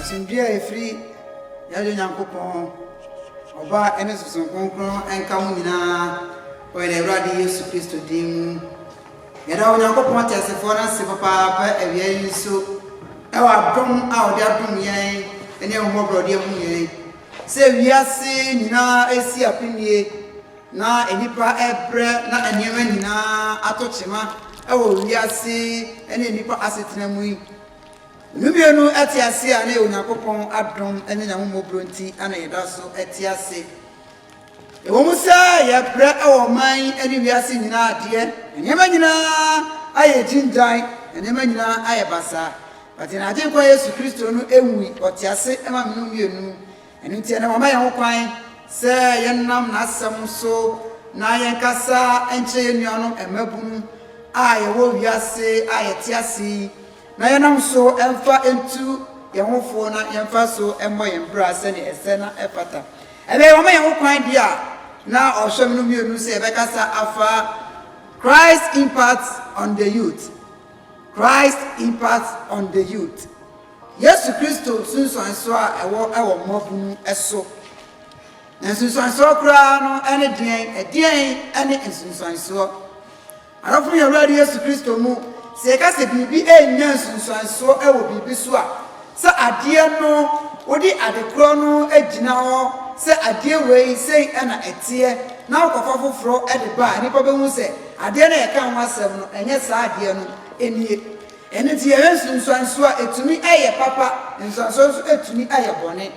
Asomdwoe a ɛfiri yɛn Agya Nyankopɔn, Ɔba ne Sunsum Kronkron nka mo nyinaa wɔ yɛn Awurade Yesu Kristo din mu. Yɛda Onyankopɔn teasefoɔ no ase papaapa awia yi nso wɔ adom a ɔde adom yɛn ne ahummɔborɔdeɛ mu yɛn. Sɛ wiase nyinaa resi apinie na nnipa rebrɛ na nneɛma nyinaa atɔ kyema wɔ wiase ne nnipa asetena mu yi, nnome no te ase a na ɛyɛ Onyankopɔn adom ne n'ahummɔborɔ nti na yɛda so te ase. Ɛwom sɛ yɛbrɛ wɔ ɔman yi ne wiase nyinaa adeɛ, nneɛma nyinaa ayɛ gyingyan, nneɛma nyinaa ayɛ basaa, but yɛn Agyenkwa Yesu Kristo no nwui, ɔte ase ma me no mmienu. Ɛno nti ɛnnɛ wama yɛn ho kwan sɛ yɛnam N'asɛm so na yɛnkasa nkyerɛ yɛn nuanom mmabunu a yɛwɔ wiase a yɛte ase yi na yɛnam so mfa ntu yɛn ho fo na yɛmfa so mmɔ yɛn bra sɛdeɛ ɛsɛ na ɛfata. Ɛbɛyɛ wɔama yɛn hokwan deɛ a na ɔhwɛm no mmienu sɛ yɛbɛkasa afa Christ's Impact on the Youth, Christ's Impact on the Youth, Yesu Kristo nsunsuansoɔ a ɛwɔ wɔ mmabunu so. Na nsunsuansoɔ koraa no ne deɛn? Ɛdeɛn ne nsunsuansoɔ? Adɔfo, yɛn Awurade Yesu Kristo mu, sɛ yɛka sɛ biribi renya nsunsuansoɔ wɔ biribi so a, sɛ adeɛ no, wode ade korɔ no gyina hɔ sɛ adeɛ wei sei na ɛteɛ na wokɔfa foforɔ de ba a, nnipa bɛhu sɛ adeɛ no a yɛka ho asɛm no, ɛnyɛ saa adeɛ no nie. Ɛno nti yɛhwɛ nsunsuansoɔ a, ɛtumi yɛ papa, nsunsuansoɔ nso ɛtumi yɛ bɔne.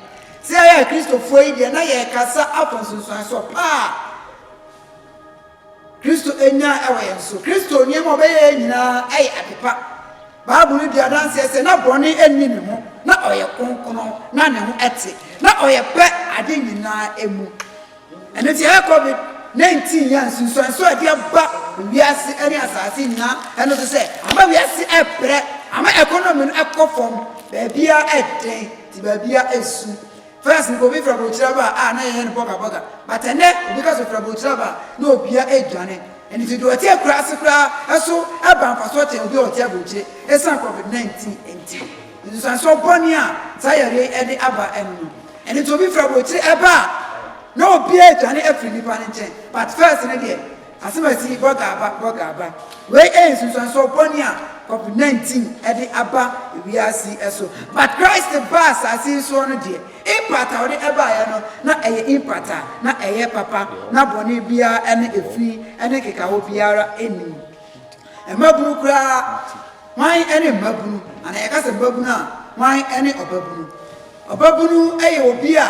Sɛ yɛyɛ Akristofoɔ yi deɛ, na yɛrekasa afa nsunsuansoɔ pa a. Kristo anya wɔ yɛn so. Kristo nneɛma a ɔbɛyɛe nyinaa yɛ adepa. Bible di adanse sɛ na bɔne nni ne ho, na ɔyɛ kronkron, na ne ho te, na ɔyɛ pɛ ade nyinaa mu. Ɛno nti, ɛyɛ COVID-19 yi a nsunsuanso a ɛde aba wiase ne asase nyinaa no so sɛ ama wiase rebrɛ, ama ɛkɔnɔmi no kɔ fam, baabiara yɛ den, nti baabiara su. First no obi fra borokyire aba a na yɛyɛ no bɔga bɔga but ɛnɛ obi ka sɛ ofira borokyire aba a na obia aduane ɛno nti deɛ ɔte akura ase koraa ɛso ɛba mfasoɔ kyɛn obi a ɔte aborokyire ɛsiane covid 19 ɛnti nsunsuansoɔ bɔne a saa yareɛ yi ɛde aba ɛno no ɛno nti obi fra borokyire ɛba a na obia aduane afiri nipa no nkyɛn but first no deɛ Asɛm a ɛse bɔga aba, bɔga aba, wei yɛ nsunsuansoɔ bɔne a Covid 19 de aba wiase yi so. But Christ baa asase yi soɔ no deɛ, impact a ɔde baeɛ no, na ɛyɛ impact a na ɛyɛ papa, na bɔne biara ne efi ne nkekaho biara nnim. Mmabunu koraa, Hwan ne mmabunu? Anaa yɛka sɛ mmabunu a, hwan ne ɔbabunu? Ɔbabunu yɛ obi a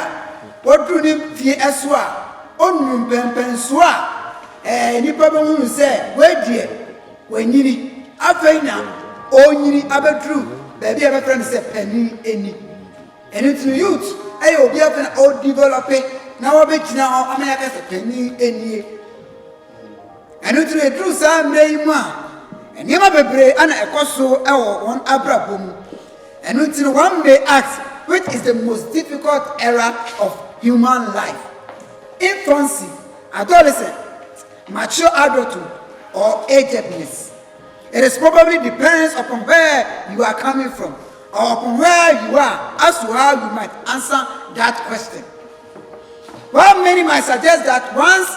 waduru ne mfeɛ so a ɔnunu mpɛnpɛnsoɔ a ɛɛ nnipa bɛhu no sɛ wei deɛ wanyini. Afei na ɔrenyini abɛduru baabi a yɛbɛfrɛ no sɛ panin ani. Ɛno nti no youth yɛ obi afei na ɔredevelɔpe na wabɛgyina hɔ ama yɛaka sɛ panin anie. Ɛno nti no, ɛduru saa mmerɛ yi mu a, nneɛma bebree na ɛkɔ so wɔ wɔn abrabɔ mu. Ɛno nti no, one may ask, which is the most difficult era of human life? Infancy, adolescence, mature adulthood, or agedness? It is probably depends upon where you are coming from or upon where you are as to how you might answer that question. While many might suggest that one's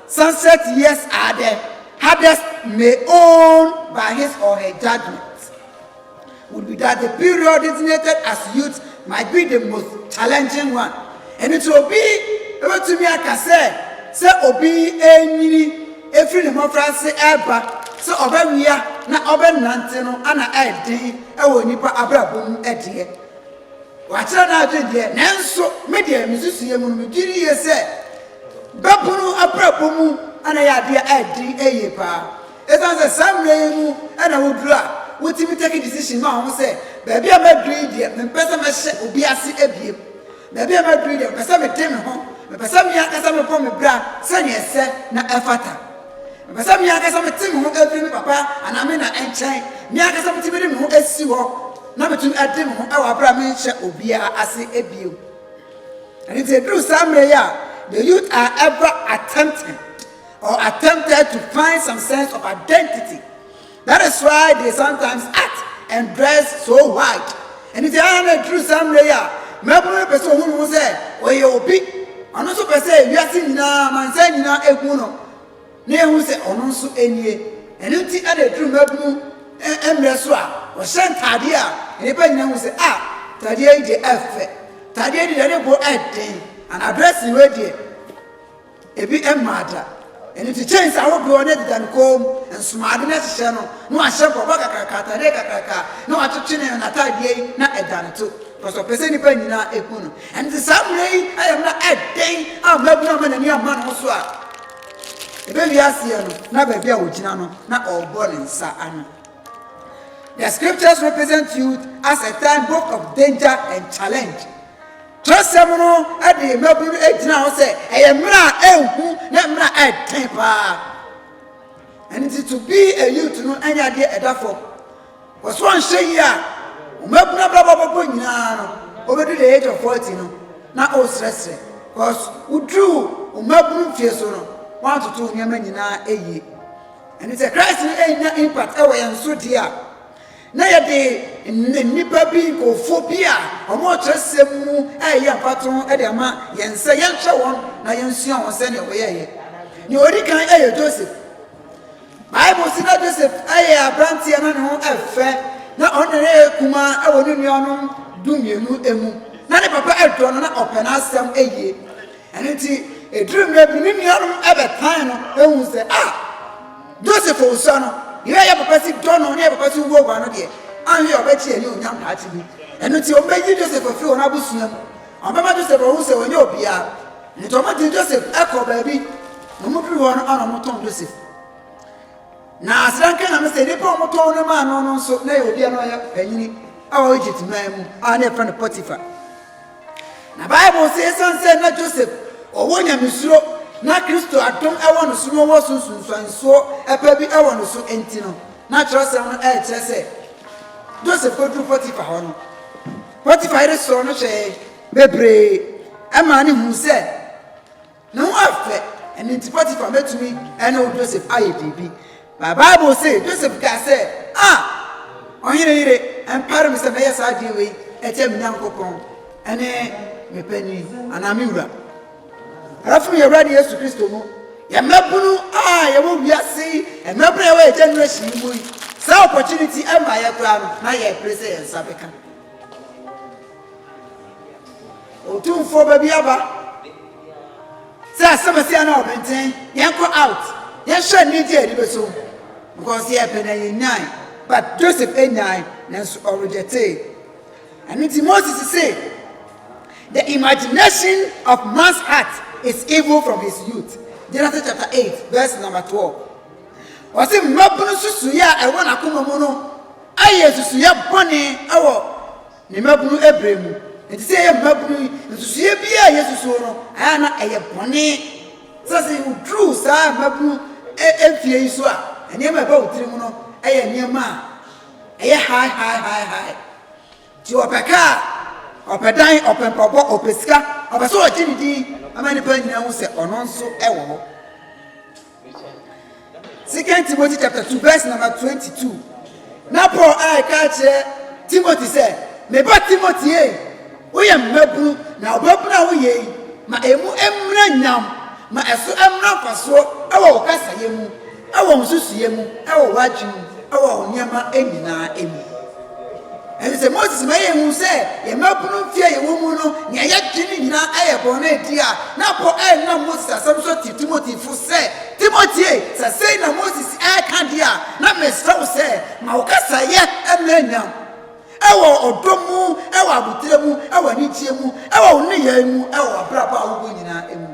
sunset years are the hardest may own by his or her judgement would be that the period designated as youth might be the most challenging one. Ɛno nti obi bɛtumi aka sɛ sɛ obi renyini ɛfiri ne mmɔfra ase reba sɛ ɔbɛwea na ɔbɛnante no ana ɛyɛ den wɔ nnipa abrabɔ mu deɛ. Wakyerɛ n'adwene deɛ, nanso me deɛ me nsusuiɛ mu no megye no yie sɛ bɛpono abrabɔ mu na ɛyɛ adeɛ a ɛdene yie paa. Ɛsiane sɛ saa mmerɛ yi mu na woduru a wotumi take decision ma wɔn sɛ baabi a maduru yi deɛ mempɛ sɛ mɛhyɛ obi ase biom. Baabi a maduru yi deɛ mepɛ sɛ mede me ho, mepɛ sɛ me ankasa mebɔ me bra sɛdeɛ ɛsɛ na ɛfata. Mepɛ sɛ me ankasa mete me ho afiri me papa anaa me na nkyɛn, me ankasa metumi de me ho asi hɔ. na metumi ade me ho wɔ bere a menhyɛ obiara ase bio. Ɛno nti, eduru saa mmerɛ yi a, the youth are ever attempting or attempted to find some sense of identity. That is why they sometimes act and dress so white. Ɛno nti, ara na eduru saa mmerɛ yi a, mmabunu no pɛ sɛ ohun ho sɛ ɔyɛ obi. Ɔno nso pɛ sɛ wiase nyinaa, amansan nyinaa ehu no. na yɛahu sɛ ɔno nso nie. Ɛno nti na ɛduru mmabunu mmerɛ so a, wɔhyɛ ntaadeɛ a nnipa nyina hu sɛ, ah, ntaadeɛ yi deɛ ɛfɛ, ntaadeɛ yi deɛ ne bo ɛden, anaa dressing wei deɛ ebi mmaa da. Ɛno nti chains ahodoɔ na ɛdeda ne kɔn mu, nsomaade na ɛhyehyɛ no, na wahyɛ bɔbɔ kakraka, ataadeɛ kakraka, na watwetwe ne n'ataadeɛ yi na ɛda ne to, because ɔpɛ sɛ nnipa nyina ɛhu no. Ɛno nti saa mmerɛ yi ayɛ mmerɛ ɛden a mmabunu ama n'ani ama ne ho so a, Ebewie aseɛ no, na baabi a ɔgyina no, na ɔrebɔ ne nsa ano. The scriptures represent youth as a time both of danger and challenge. Twerɛsɛm no de mmabunu no gyina hɔ sɛ ɛyɛ mmerɛ a ɛnhu ne mmerɛ a ɛden paa. Ɛno nti to be a youth no ɛnyɛ adeɛ ɛda fam. Ɔsɛ sɛ ɔnhyɛ yie a mmabunu abrabɔ bɛkɔ nyinaa no ɔbɛdu the age of forty no na ɔresrɛsrɛ cos woduruu mmabunu mfie so no woantoto nneɛma nyinaa yie ɛne sɛ Christ no ɛnya impact ɛwɔ yɛn so deɛ a na yɛde nnipa bi nkurɔfoɔ bi a wɔn ɔkyerɛsɛm mu ɛyɛ mfato ɛde ama yɛn sɛ yɛnhwɛ wɔn na yɛnsua wɔn sɛdeɛ wɔyɛɛyɛ nea ɔdi kan ɛyɛ Joseph Bible se na Joseph yɛ aberanteɛ na ne ho fɛ, na ɔno na na yɛ kumaa wɔ ne nuanom dumienu mu. Na ne papa dɔ no na ɔpɛ n'asɛm yie. Ɛno nti, ɛduruu mmerɛ bi no, ne nuanom bɛtan no huu sɛ, Ah! Joseph ɔsua no, deɛ ɔyɛ a yɛn papa si dɔ no na yɛn papa si huahua no deɛ, anhwɛ a ɔbɛgye yɛn animuonyam daakye bi. Ɛno nti, wɔbɛyi Joseph afiri wɔn abusua mu. Wɔbɛma Joseph ahu sɛ ɔnyɛ obiara, nti wɔde Joseph kɔɔ baabi, na wɔduru hɔ no ana wɔtɔn Joseph. Na asranka nyame sɛ nnipa a wɔtɔn no maa no no nso na ɛyɛ obi a na ɔyɛ panyini a ɔwɔ Egypt man mu a na yɛfrɛ no Potiphar. Na Bible sɛ esiane sɛ na Joseph ɔwɔ nyamesuro na Kristo adom wɔ no so na ɔwɔ so nsunsuansoɔ pa bi wɔ no so nti no, na kyerɛwsɛm no ɛrekyerɛ sɛ Joseph kɔduru Potiphar hɔ no, Potifar yere sɔɔ no hwɛe bebree maa no huu sɛ ne ho afɛ, ɛno nti Potifar betumi ne wo Joseph ayɛ biribi. Ba Bible se Joseph kaa sɛ, A! Ɔhene yere, ɛmpare me sɛ mɛyɛ saa adeɛ wei atia me Nyankopɔn ne me panin anaa me wura. Ɛrɛfo no yɛ Awurade Yesu Kristo mu, yɛ mmabunu a yɛwɔ wiase yi, mmabunu a yɛwɔ yɛ generation yi mu yi, saa opportunity ɛmma yɛ koraa no, na yɛpere sɛ yɛn nsa bɛka. Otumfoɔ ba bi aba. Sɛ asɛm ɛsɛ yɛn na ɔbɛnten, yɛn kɔ out. Yɛn hyɛ ne nti a yɛde bɛso. Because yɛ pɛ na yɛn nyan. But Joseph nyan, nanso ɔrejɛtee. Ɛno nti Moses se, the imagination of man's heart is evil from his youth. Genesis chapter eight verse number twelve. Ɔse mmabunu susuiɛ a ɛwɔ n'akoma mu no. Ayɛ nsusuiɛ bɔne wɔ ne mmabunu berɛ mu. Enti sɛ yɛyɛ mmabunu yi, nsusuiɛ biara a yɛsusuo no, ɛyɛ a na ɛyɛ bɔne. Sɛ sɛ woduru saa mmabunu mfeɛ yi so a, nneɛma a ɛba wo tirim no yɛ nneɛma a ɛyɛ hae hae hae hae. Nti ɔpɛ kaa, ɔpɛ dan, ɔpɛ mpaboa, ɔpɛ sika, ɔpɛ sɛ ɔgye ne din ma nnipa nyinaa hu sɛ ɔno nso wɔ hɔ. Second Timothy chapter two verse number twenty two. Na Paul a ɛka akyerɛ Timothy sɛ, Me ba Timothy ei, woyɛ mmabunu, na ɔbabunu a woyɛ yi, ma emu mmra nyam, ma ɛso mmra mfasoɔ wɔ wo kasayɛ mu, wɔ wo nsusuiɛ mu, wɔ w'adwene mu, wɔ wo nneɛma nyinaa mu. Ɛne sɛ, Moses ma yɛhu sɛ yɛn mmabunu mfe a yɛwɔ mu no, nea yɛdwen no nyinaa yɛ bɔn a edi a na Paul renam Moses asɛm so te Timotefo sɛ, Timote, sɛ sei na Moses reka de a, na mesrɛ wo sɛ, ma wo kasayɛ mmra nyam, wɔ ɔdɔ mu, wɔ abotire mu, wɔ anigyeɛ mu, wɔ wo nneyɛe mu, wɔ w'abrabɔ a wobɔ nyinaa mu.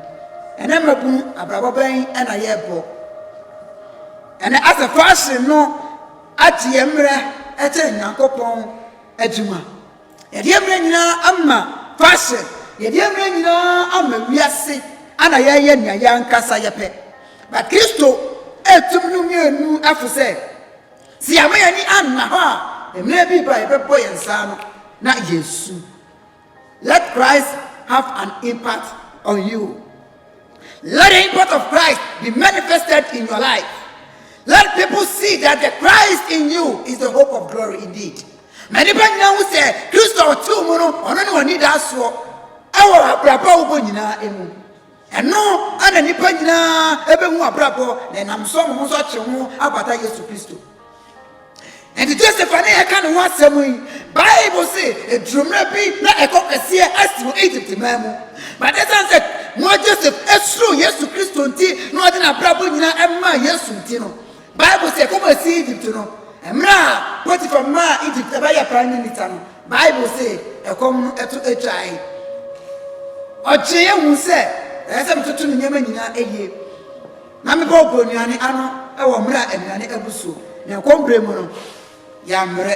Ɛnɛ mmabunu, abrabɔ bɛn na yɛbɔ? Ɛnɛ asafo ahye no. Agye yɛn mmerɛ kyɛn Nyankopɔn adwuma. Yɛde yɛn mmerɛ nyinaa ama fashion, yɛde yɛn mmerɛ nyinaa ama wiase ɛna yɛyɛ nea yɛn ankasa yɛpɛ. But Kristo ɛretum no mmienu ɛfosɛ sɛ yɛama yɛn ani anna hɔ a mmerɛ bi ba a yɛbɛbɔ yɛn nsa ano na yɛasu. Let Christ have an impact on you. Let the impact of Christ be manifested in your life. Let people see that the Christ in you is the hope of glory indeed. Ma nipa nyinaa hu sɛ Kristo a ɔtew mu no ɔno ne ɔnidasoɔ ɛwɔ abrabɔ a wobɔ nyinaa mu. Ɛno na nnipa nyinaa bɛhu abrabɔ na ɛnam so wɔn ho nso akye ho abata Yesu Kristo. Enti Joseph a ne yɛka ne ho asɛm yi, Bible se eduru mmerɛ bi na ɛkɔ kɛseɛ asi wɔ Egypt man mu. But ɛsiane sɛ na Joseph suro Yesu Kristo nti na ɔde n'abrabɔ nyinaa maa Yesu nti no, Bible se kɔm a sii Egypt no, mmerɛ a Potiphar maa Egypt bɛyɛ prime minister no, Bible se ɛkɔm no to twae. Ɔgyee ahu sɛ ɛsɛ sɛ metoto me nneɛma nyinaa yie na mebɔ ɔbɔ nnuane ano wɔ mmerɛ a nnuane abu so, na ɛkɔm berɛ mu no, yɛammrɛ.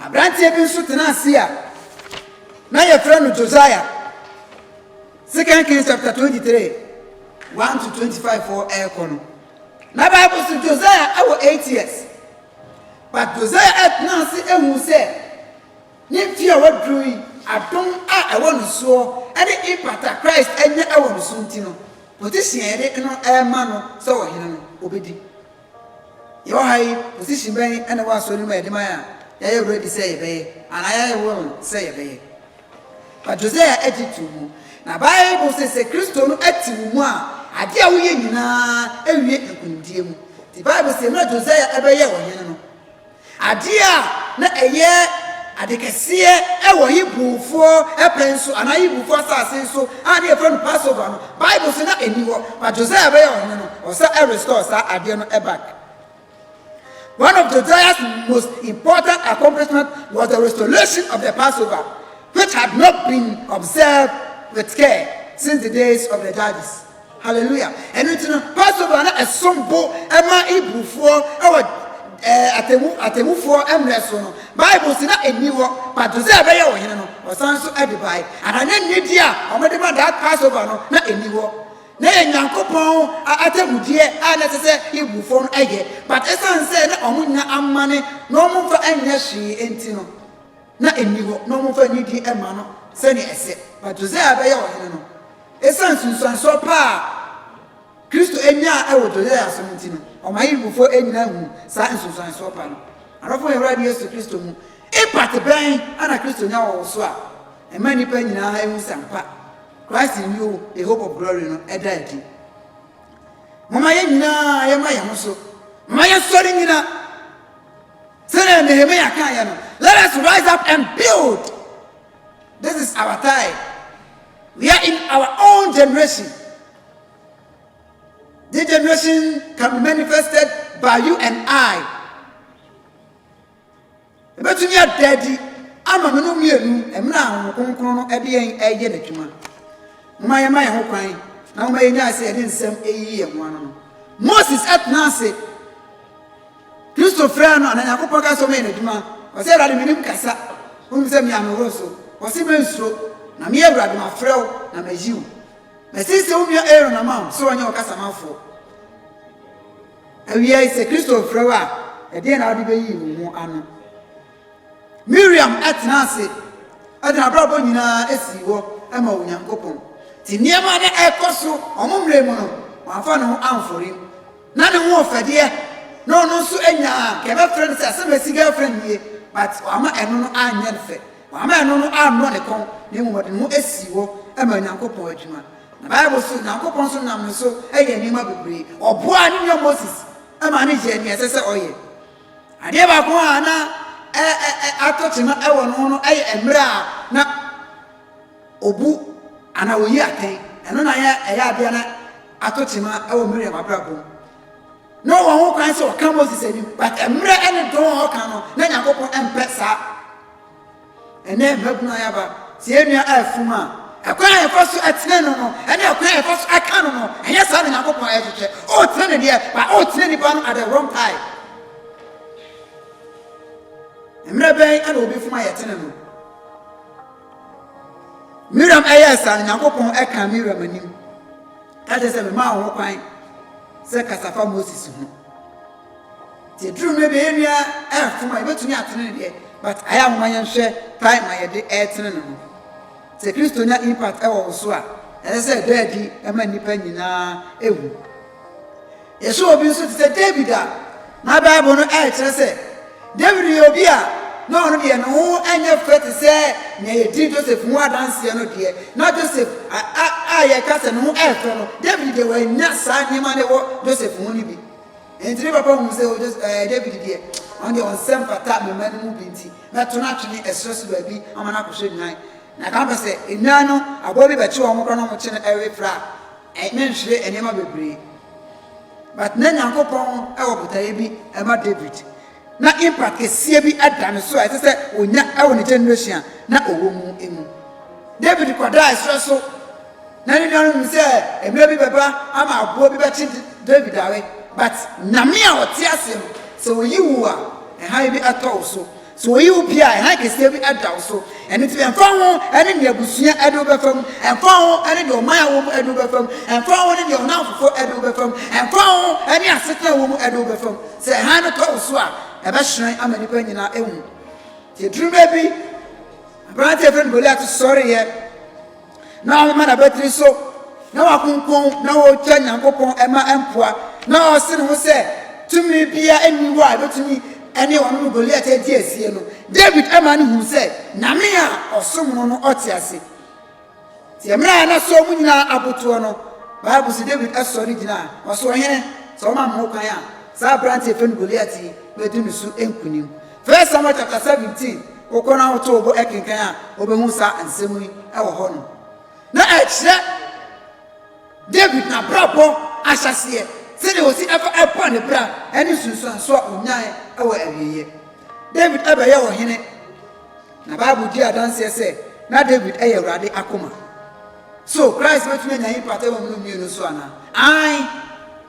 Aberanteɛ bi nso tenaa ase a na wɔfrɛ no Josiah. 2 Kings chapter 23, 1-25 hɔ rekɔ no, na Bible se Josiah wɔ eight years. But Josiah tenaa ase huu sɛ ne mfeɛ a waduru yi, adom a ɛwɔ ne soɔ ne impact a Christ anya wɔ ne so nti no, position a yɛde no rema no sɛ ɔhene no, ɔbɛdi. Yɛwɔ ha yi, position bɛn na ɛwɔ Asɔre no mu a yɛde ma yɛn a yɛayɛ ready sɛ yɛbɛyɛ anaa yɛayɛ willing sɛ yɛbɛyɛ? Fa Josiah akyi to mu. Na Bible se sɛ Kristo no te wo mu a, ade a woyɛ nyinaa wie nkonimdie mu. Nti Bible se mmerɛ Josiah bɛyɛɛ ɔhene no, Adeɛ a na ɛyɛ ade kɛseɛ wɔ Hebrifoɔ pɛn so anaa Hebrifoɔ asase so a na yɛfrɛ no Passover no, Bible se na ɛnni hɔ. But Josiah bɛyɛ ɔhene no, ɔsɛ restore saa adeɛ no back. One of Josiah's most important accomplishment was the restoration of the Passover, which had not been observed with care since the days of the judges. Hallelujah! Ɛno nti no, Passover na ɛsom bo ma Hebrifoɔ wɔ atemmu atemmufoɔ mmerɛ so no. Bible se na ɛnni hɔ, but Josiah bɛyɛɛ ɔhene no, ɔsan nso de bae. Anaa na nidi a wɔde ma that Passover no na ɛnni hɔ. Na ɛyɛ Nyankopɔn atemmudeɛ a na ɛsɛ sɛ Hebrifoɔ no yɛ, but ɛsiane sɛ na wɔnnya ammane na wɔmfa nyɛ hwee nti no, na ɛnni hɔ na wɔmfa nidi mma no sɛnea ɛsɛ. But Josiah bɛyɛɛ ɔhene no, Esiane nsunsuansoɔ pa a Kristo nyaa wɔ Josiah so no nti no, ɔma Hebrifo nyinaa hu saa nsunsuansoɔ pa no. Adɔfo, yɛn Awurade Yesu Kristo mu impact bɛn na Kristo nya wɔ wo so a ɛma nnipa nyinaa hu sɛ ampa Christ in you, the hope of glory no da adi? Momma yɛn nyinaa yɛmma yɛn ho so. Momma yɛnsɔre nnyina. Sɛdeɛ Nehemia kaeɛ no, let us rise up and build. This is our time. We are in our own generation. This generation can be manifested by you and I. Ebetumi ada adi ama me no mmienu mmerɛ a wɔn kronkron no ɛde yɛn ɛyɛ n'adwuma. Mma yɛn ma yɛn ho kwan na wɔn yɛn nyɛ ase yɛde nsɛm eyi yɛn ho ano no. Moses ɛtena ase. Kristo frɛɛ no a na Nyankopɔn ka sɛ ɔmɛyɛ n'adwuma. Ɔse, Awurade, menim kasa, wonim sɛ mea meworo so. Ɔse, Mensuro, na me Awurade, mafrɛ wo na mayi wo. Masiesie wo nua Aaron ama wo sɛ ɔnyɛ wo kasamafoɔ. Awiei, sɛ Kristo frɛ wo a, ɛdeɛn na wode bɛyi wo ho ano? Miriam tena ase de n'abrabɔ nyinaa sii hɔ ma Onyankopɔn. Ti nneɛma na ɛkɔ so wɔn mmerɛ mu no, wɔamfa ne ho amfɔre mu. Na ne ho ɔfɛdeɛ na ɔno nso anya a nka yɛbɛfrɛ no sɛ asɛm a ɛsi girlfriend nie but wama ɛno no anyɛ no fɛ, wama ɛno no annɔ ne kɔn na mmom ɔde ne ho asii hɔ ma Nyankopɔn adwuma. Na Bible nso Nyankopɔn nso nam ne so yɛɛ nneɛma bebree. Ɔboaa ne nua Moses ma no yɛɛ nea ɛsɛ sɛ ɔyɛ. Adeɛ baako a na atɔ kyema wɔ ne ho no yɛ mmerɛ a na Obu anaa oyi atɛn, ɛno na na ɛyɛ ade a na ato tema wɔ Miriam abrabɔ mu. Na ɔwɔ ho kwan sɛ ɔka Moses anim, but mmerɛ ne dɔn a ɔka no, na Nyankopɔn mpɛ saa. Ɛnɛ mmabunu ayaba, sɛ yɛn nua afum a, ɛkwan a yɛfa so ɛtene no no, ɛne ɛkwan a yɛfa so ɛka no no, ɛnyɛ saa na Nyankopɔn ɛhwehwɛ. Ɔretene ne deɛ, but ɔretene nipa no at the wrong time. Mmerɛ bɛn ɛna obi fum a yɛtene no? Miriam yɛɛ saa no, Nyankopɔn kaa Miriam anim ka kyerɛ sɛ, Memaa wo ho kwan sɛ kasa fa Moses ho. Nti aduru mmerɛ bi ɛyɛ nua ɛmfom a yɛbɛtumi atene ne deɛ, but ayɛ ahoma yɛn hwɛ time a yɛde ɛretene no no. Sɛ Kristo nya impact ɛwɔ wo so a, ɛsɛ sɛ ɛda adi ɛma nnipa nyinaa ɛhu. Yɛhwɛ obi nso te sɛ Dawid a, na Bible no kyerɛ sɛ Dawid yɛ obi a na ɔno deɛ ne ho nyɛ fɛ te sɛ nea yɛdi Joseph ho adanseɛ no deɛ. Na Joseph a, a, a yɛka sɛ ne ho yɛ fɛ no, Dawid deɛ wannya saa nneɛma no wɔ Joseph ho no bi. Enti ne papa huu sɛ o, Jos, ɛɛ, Dawid deɛ, ɔno deɛ ɔnsɛ mfata me mma no mu bi nti, mɛto no atwene ɛserɛ so baabi ama no akɔhwɛ nnwan. Na ka mpɛ sɛ nnwan no, aboa bi bɛkye wɔn koraa na wɔkye no ɛwe fra a, Ɛnyɛ nhwere nneɛma bebree but na Nyankopɔn wɔ botaeɛ bi ma David na impact kɛseɛ bi da ne so a ɛsɛ sɛ ɔnya wɔ ne generation a na ɔwɔ mu mu. David kɔdaa ɛserɛ so na ne nuanom nim sɛ mmerɛ bi bɛba ama aboɔ bi bɛkye David awe but Nyame a ɔte aseɛ no sɛ ɔyi wo a ɛhan bi tɔ wo so. Sɛ woyi wo pii a, hann kɛseɛ bi da wo so. Ɛno nti, ɛmfa ho ne deɛ abusua de wo bɛfa mu, ɛmfa ho ne deɛ ɔman a wowɔ mu de wo bɛfa mu, ɛmfa ho ne deɛ ɔnamfofo de wo bɛfa mu, ɛmfa ho ne asetena a wowɔ mu de wo bɛfa mu, sɛ hann no tɔ wo so a, ɛbɛhyerɛn ama nnipa nyinaa ahu. Nti ɛduru mmerɛ bi, aberanteɛ a wɔfrɛ no Goliat sɔreeɛ. Na ɔmema n'abatiri so, na wakonkɔn, na ɔregya Nyankopɔn ma ɛmpoa, na ɔse ne ho sɛ, Tumi biara nni hɔ a ɛbɛtumi ne ɔno ne Goliat adi asie no. Dawid maa no huu sɛ Nyame a ɔsom no no ɔte ase. Nti mmerɛ a na soɔ mu nyinaa abotoɔ no, Bible se Dawid sɔre gyinaa, ɔse, Ɔhene, sɛ woma me ho kwan a, saa aberanteɛ yɛfrɛ no Goliat yi bɛdi ne so nkonim. First Samuel chapter seventeen, wokɔ na woto wo bo kenkan a, wobɛhu saa nsɛm yi wɔ hɔ no. Na ɛkyerɛ David n'abrabɔ ahyɛseɛ, sɛdeɛ ɔsi ɛfa ɛbɔ ne bra ne nsunsuansoɔ a ɔnyae wɔ awieeɛ. David bɛyɛ ɔhene, na Bible di adanseɛ sɛ na David yɛ Awurade akoma. So Christ bɛtumi anya yi mpata wɔ mmienu so anaa? Aane!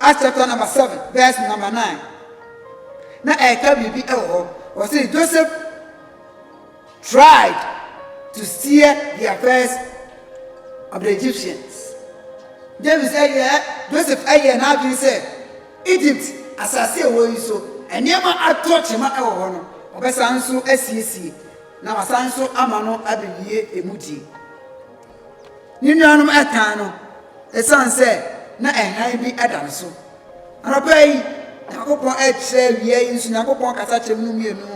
Acts chapter number seven verse number nine na ɛka biribi wɔ hɔ wɔsi Joseph tried to steer the affairs of the Egyptians James ɛyɛ Joseph ɛyɛ n'adwene sɛ Egypt asase a ɛwɔ yi so nneɛma atɔ kyema wɔ hɔ no ɔbɛsan nso asiesie na wasan nso ama no abɛwie emu die. Ne nuanom tan no esiane sɛ na hann bi da ne so. Anɔpa yi, Nyankopɔn kyerɛ wia yi nso Nyankopɔn kasa kyerɛ mu mmienu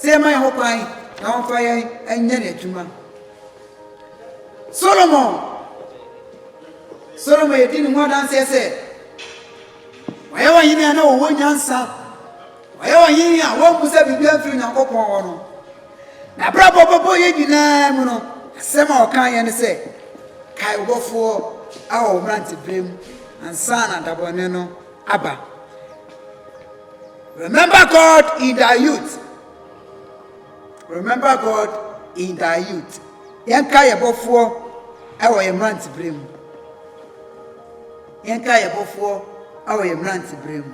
sɛ yɛma yɛn ho kwan na wɔmfa yɛn nyɛ n'adwuma. Solomon Solomon yɛdi ne ho adanseɛ sɛ wɔyɛ ɔhene a na ɔwɔ nyansa Ɔyɛ Ɔhene a wommu sɛ biribiara mfiri Onyankopɔn hɔ no. N'abrabɔ pɛpɛyɛ nyinaa mu no, asɛm a ɔkaeɛ ne sɛ, Kae wo Bɔfoɔ wɔ wo mmeranteberem ansa na dabɔne no aba. Remember God in thy youth. Remember God in thy youth. Yɛnka yɛ Bɔfoɔ wɔ yɛ mmeranteberem. Yɛnka yɛ Bɔfoɔ wɔ yɛ mmeranteberem.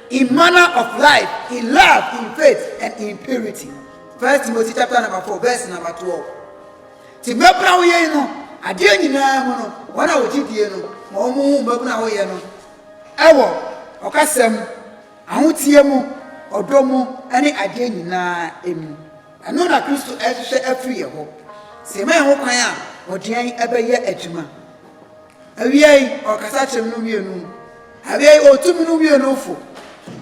Im manner of life, in love, in faith, and in purity. First Timothy chapter number four, verse number twelve. Ti mmabuna wo yɛn no, adeɛ nyinaa mu no, wɔn a wɔgye die no, ma wɔn ho mmabuna wo yɛ no, ɛwɔ ɔkasa mu, ahoteɛ mu, ɔdɔ mu, ɛne adeɛ nyinaa emu. Ɛno na Kristo ɛrehwehwɛ afiri yɛ hɔ. Sɛ yɛma yɛn ho kwan a, ɔdeɛn ɛbɛyɛ adwuma. Awiei, ɔkasa kyerɛ me no wiee no mu. Awiei, otu me no wiee no fo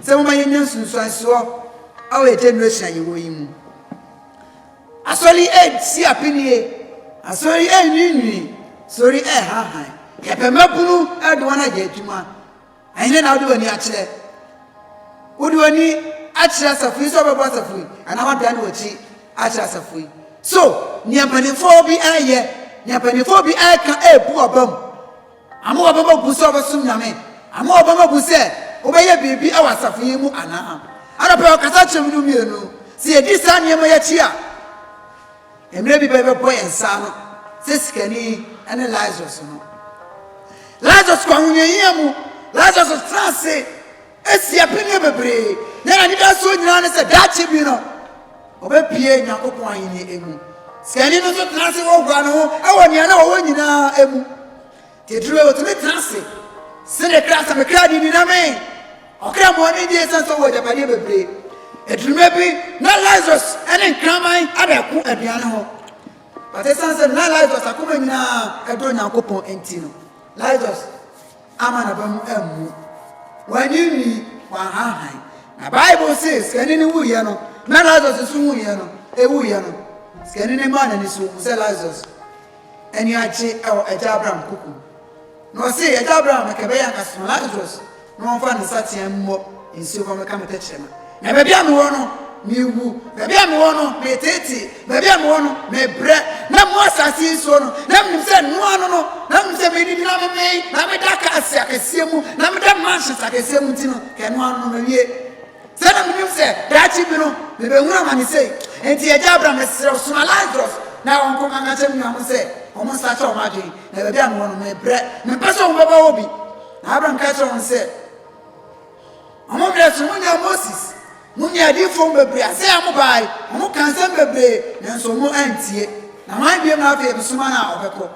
sɛ momma yennya nsunsuansoɔ wɔ generation a yɛwɔ yi mu. Asɔre yi resi apinie, asɔre yi renwiinwii, asɔre yi rehanhan. Yɛpɛ mmabunu de wɔn ayɛ adwuma. Ɛhe na wode w'ani akyerɛ? Wode w'ani akyerɛ asafo yi sɛ wobɛbɔ asafo yi anaa woadane w'akyi akyerɛ asafo yi? So nea mpanimfoɔ bi reyɛ, nea mpanimfoɔ bi reka rebu w'aba mu ama w'abama bu sɛ wobɛsom Nyame ama w'abama bu sɛ wobɛyɛ biribi wɔ asafo yi mu anaa? Anɔpa yi ɔkasa kyerɛ mu no mmienu. Sɛ yɛdi saa nneɛma yi akyi a, Mmerɛ bi bɛbɛbɔ yɛn nsa ano sɛ sikani ne Lazarus no. Lazarus kɔ ahohiahia mu. Lazarus tra ase asi apɛnneɛ bebree, na n'anidasoɔ nyinaa ne sɛ daakye bi no ɔbɛpue Nyankopɔn ahennie mu. Sikani no nso tra ase hoahoa ne ho wɔ nea na ɔwɔ nyinaa mu. Titiriw a otumi tena ase sen ne kra sɛ me kra de nnyina me. Ɔkra mu ɔne di esiane sɛ ɔwɔ agyapadeɛ bebree. Aduruma bi na Lazarus ne nkraman ada ko aduane ho. But esiane sɛ na Lazarus akoma nyinaa ɛdɔ Nyankopɔn nti no, Lazarus ama n'aba mu ammu. Wanyinyi, wanhanhan. Na Bible se sikani no wuiɛ no, na Lazarus nso wuiɛ no, ewuiɛ no, sikani no maa n'ani so hu sɛ Lazarus ani agye wɔ Agya Abraham koko mu, na ɔse, Agya Abraham, anka ɛbɛyɛ anka soma Lazarus na ɔmfa ne nsateaa mmɔ nsuo fa mmɛka me tɛkyerɛma, na baabi a mewɔ no, mewu, baabi a mewɔ no, meteetee, baabi a mewɔ no, mebrɛ, na mo asase yi nsuo no, na menim sɛ ɛno ano no, na menim sɛ medidi na memee, na meda cars akɛseɛ mu, na meda mansions akɛseɛ mu nti no, ka ɛno ano no, mawie. Sɛ na minim sɛ daakye bi no mebehunu amane sei nti, Agya Abraham, mesrɛ wo, soma Lasarus na ɔnkɔka nkyerɛ me nuanom sɛ wɔnsakyera wɔn adwene, na baabi a mewɔ no, merebrɛ. Mempɛ sɛ wɔbɛbɔ hɔ bi. Na Abraham ka kyerɛɛ wɔn sɛ, Wɔn mmerɛ so monyɛ Moses mo ne adiyifoɔ mu bebree a sɛ yɛ mobaae, wɔkaa nsɛm bebree, nanso wɔn antie. Na hwan bio na afei mesoma no a ɔbɛkɔ?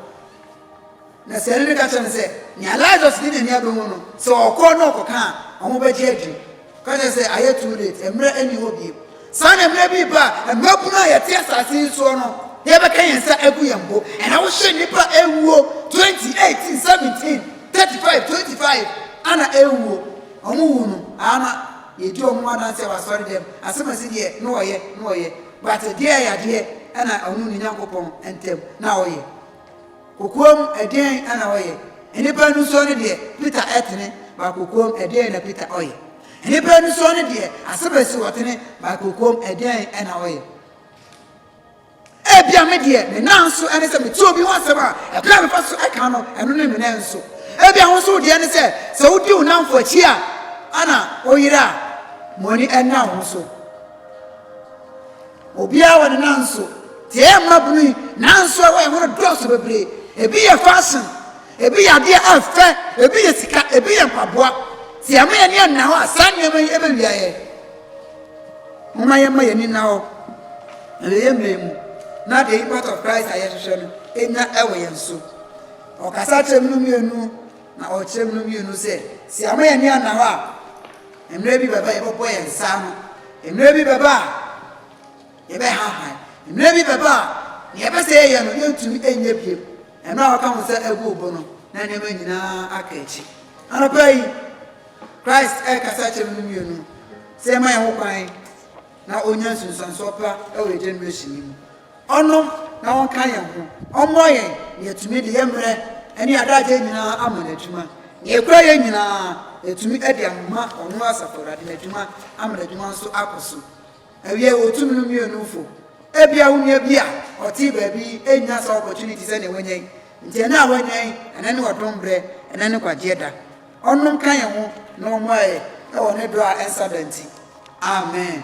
Na sɛ ɛno de ka kyerɛ no sɛ, nea Lazarus ne Nyame abɔ mu no, sɛ ɔkɔ na ɔkɔka a, ɔho bɛgye adwiri. Ka kyerɛ no sɛ, ayɛ too late, mmerɛ nni hɔ bio. Saa na mmerɛ bi reba a, mmabunu a yɛte asase yi soɔ no, yɛbɛka yɛn nsa agu yɛn bo. Ɛna wohyɛ nnipa awuo, 20, 18, 17, 35, 25, ana awuo. Ɔmo wu no, ama yɛdi ɔmo adanseɛ wɔ asɔredɛm, asɛm a ɛsi deɛ na wɔyɛ, na wɔyɛ. But deɛ ɛyɛ adeɛ na ɔno ne Nyankopɔn ntam na ɔyɛ. Kokoam, ɛdeɛn na ɔyɛ? Nnipa anisɔ no deɛ, Peter ɛtene, but kokoam, ɛdeɛn na Peter ɔyɛ? Nnipa anisɔ no deɛ, Asebesi ɔtene, but kokoam, ɛdeɛn na ɔyɛ? Ebia me deɛ, me nan nso ne sɛ mete obi ho asɛm a, ɛberɛ a mefa so ka no, ɛno ne me nan nso. Ebia wo nso wo deɛ ne sɛ, sɛ wodi wo namfo akyi a, ɛna woyera a, mo ani nna wo ho so. Obiara wɔ ne nan so. Deɛ ɛyɛ mmabunu yi, nan so a ɛwɔ yɛn ho no dɔɔso bebree. Ebi yɛ fashion, ebi yɛ adeɛ a ɛfɛ, ebi yɛ sika, ebi yɛ mpaboa. Sɛ yɛma yɛn ani anna hɔ a, saa nneɛma yi bɛwia yɛn. Momma yɛmma yɛn ani nna hɔ na yɛyɛ mmerɛ mu na the impact of Christ a yɛhwehwɛ no nya wɔ yɛn so. Ɔkasa kyerɛ mu no mmienu. Na ɔkyerɛ mu no wiee no sɛ, Sɛ yɛama yɛn ani anna hɔ a, mmerɛ bi bɛba a yɛbɛbɔ yɛn nsa ano, mmerɛ bi bɛba a yɛbɛhanhan, mmerɛ bi bɛba a deɛ yɛpɛ sɛ yɛyɛ no yɛntumi nyɛ bio. Mmerɛ a wɔka wo nsa agu wo bo no, na nneɛma nyinaa aka akyi. Anɔpa yi, Christ rekasa akyerɛ mu no wiee no, sɛ yɛma yɛn ho kwan na ɔnya nsunsuansoɔ pa wɔ yɛn generation yi mu. Ɔno na ɔnka yɛn ho, ɔmmɔ yɛn, na yɛatumi de yɛn mmerɛ ne adagyeɛ nyinaa ama no adwuma. Deɛ ɛkura yɛn nyinaa, yɛatumi de ama ɔno Asafo Awurade no adwuma ama n'adwuma nso akɔ so. Awiei, wɔtum no mmienufo. Ebia wo nua bi a ɔte baabi nnya saa opportunity sɛdeɛ woanya yi, nti ɛnnɛ a woanya yi, ɛnnɛ ne ɔdom berɛ, ɛnnɛ ne kwagyeɛ da. Ɔno nka yɛn ho na ɔmmoa yɛn wɔ ne dɔ a ɛnsa da nti. Amen.